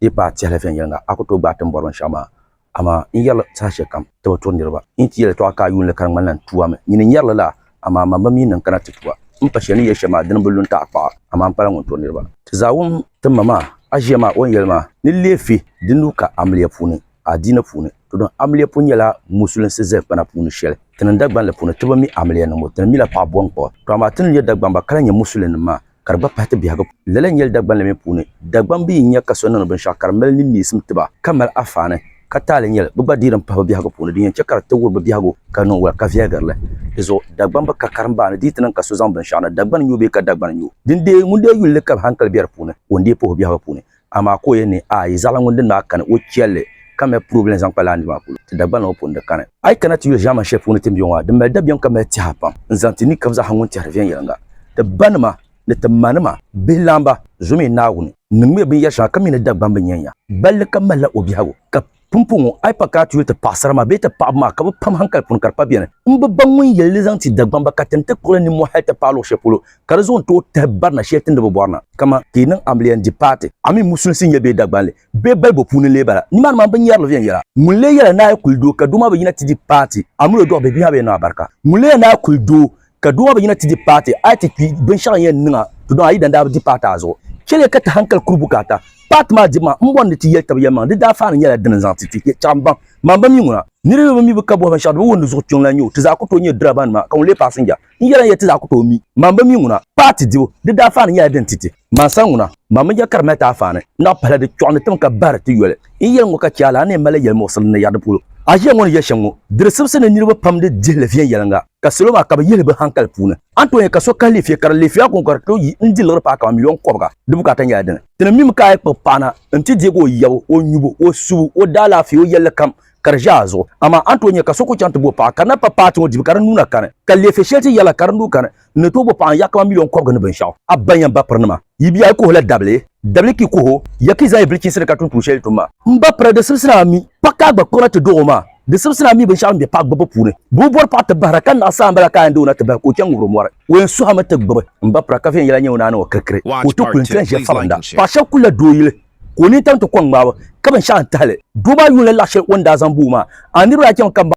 di yi paai tɛhili viɛnyɛliŋga, a ku tooi gbaai ti ni bɔri binshɛɣu maa. Amaa n yɛri li saha shɛli kam ti bi turi niriba. N yi ti yɛli yɛltɔɣa ka a yuun li ka di ŋmanila n tuwa mi. Nyini n yɛri li la, amaa mam bi mi ni n kana ti tuwa. N ni pa shɛli ni yɛli shɛm maa, dini bi lu n-taɣikpaɣa, amaa m pala ŋun turi niriba. Ti zaawum, ti ma maa, a ʒiya maa, o ni yɛli maa ni leei fi di nuu ka amiliya puuni. adiini puuni, to niŋ amiliya pun nyɛla musulinsi zalimpana puuni shɛli. Ti niŋ Dagbanli puuni, ti bi mi amiliya niŋbu, ti ni mila paɣa bɔŋkpaɣu. To amaa ti ni nyɛ Dagbamba ka lahi nyɛ musulinnim maa, ka di gba pahi ti biɛhigu puuni. Lala n-nyɛli Dagbanli mi puuni. Dagbam bi yi nya ka so niŋdi binshɛɣu ka di mali nimmiisim ti ba, ka mali afaani, ka taali nya li, bɛ gba deei din pahi bɛ biɛhigu puuni. Din yɛn chɛ ka di ti wuri bɛ biɛhigu ka niŋ wala, ka viɛgiri li. Di zuɣu Dagbam bi ka karimbaa ni di yi ti niŋ ka so zaŋ binshɛɣu na, Dagbani nyu o bee ka Dagbani nyu o. Dindee ŋun deei yuli li ka bɛ hankali be di puuni, o ni deei puhi o biɛhigu puuni. Amaa ka o yɛn ni a yi zaɣila ŋun dini maa kani o chɛlli, ka mali purebili n-zaŋ kpa laa niri maa polo, ti Dagbana ŋɔ pun di kani. A yi kana ti yuli ʒiɛman shɛli puuni tin be ŋɔ ha, di mali dabiɛm ka mali tɛha pam n-zaŋ ti ni kam zaa ha ŋun tɛhiri viɛnyɛliŋga, ti banima ni ti manima, bihilaamba, zom yi Naawuni, niŋmiya binyɛr shɛŋa ka mi ni Dagbamba nyɛnya, balli kam malila o biɛhigu, ka Pumpɔŋɔ, a yi pa ka a ti yuli ti paɣisara maa bee ti paɣiba maa ka bɛ pam hankali puuni ka di pa beni. M bi baŋ ŋun yɛli li zaŋ ti Dagbamba ka tim ti kpuɣi li nimmɔhi hali ti paai luɣ shɛli polo ka di zuɣu ni tooi tahi barina shɛli ti ni bi bɔri na. Kaman ka yi niŋ amiliya n-di paati amin musulinsi n-nyɛ bee Dagbanli bee balibu puuni n-lee bala, nimaani maa m bi nyari li viɛnyɛla. Ŋun lee yɛla ni a yi kuli doo ka doo maa bi yina ti di paati amin o dɔɣi bihi bee a bi yɛn niŋ a barika. Ŋun lee yɛli ni a yi kuli doo ka doo maa bi yina ti di paati a yi ti kpi binshɛɣu yɛn niŋa to dɔn a yidana daa bi di paati a zuɣu chɛliya ka ti hankali kuri bukaata paati maa dibu maa m bɔri ni ti yɛli tab yɛlimaŋli di daafaani nyɛla dini n-zaŋ ti ti chaɣu m baŋ maa m ba mi ŋuna. Niriba mi bi ka bɔhi binshɛɣu di bi wuhi ni zuɣu kpiɔŋ la n-nyɛ o ti zaa ku tooi nyɛ dirabanima ka ŋun lee paasinja n yɛla n-yɛli ti zaa ku tooi mi maa m ba mi ŋuna paati dibu di daafaani nyɛla dini ti ti maa sani ŋuna maa mi ja ka di mali ti afaani naɣi pahila di kpiɔɣu ni tim ka bahiri ti yoli n yɛli ŋɔ ka chɛ a lana ni yɛn malila yɛlimuɣisili ni yɛri di polo a ʒiya ŋɔ ni yɛli shɛm ŋɔ di di sibisi ni niriba pam di dihili viɛnyɛliŋga. ka salo maa ka bi yihili bi hankali puuni a tooi ka so kahi lefiya ka di lefiya ko ka di tooi yi n di liɣiri paai kamani miliyon kɔbiga di bukaata nyɛla dini ti ni mim ka a kpuɣi paana n ti deegi o yabu o nyubu o subu o daalaafee o yɛlli kam ka di ʒe a zuɣu amaa a ni tooi nya ka so ku chaŋ ti bo o paɣa ka di na pa paati ŋɔ dibu ka di nuu na kani ka lefiya shɛli ti yɛla ka di nuu kani n ni tooi bo paɣa n yahi kamani miliyon kɔbiga ni binshɛɣu a banya n ba pirinima Yi biɛhi kuhi la dabili, dabili ki kuhi o, ya ki zaa yi vili chihisiri ka tum tuun shɛli yi tum maa. M ba pira di sibisina a mi, paɣ ka a gba kpiɣira ti dɔɣi o maa. Di sibisina a mi binshɛɣu din be paɣ gbibbu puuni. Bɛ bi bɔri paɣ ti bahira, ka naɣ saha m-bala ka a yɛn di o na ti bahi ka o chaŋ ŋubiri o mɔri. O yɛn suhimi ti gbibi m ba pira ka viɛnyɛla nyɛ o ni a niŋ o kirikiri ka o ti kuli n-ti lan ʒiɛ falinda. Paɣ shɛb kul la doo yili ka o nini tam ti kɔŋ ŋmaabu, ka binshɛɣu n-tahi li. Doo maa yuun la laɣ shɛli o ni daa zaŋ bo o maa. A niriba daa chaŋmi ka m ba.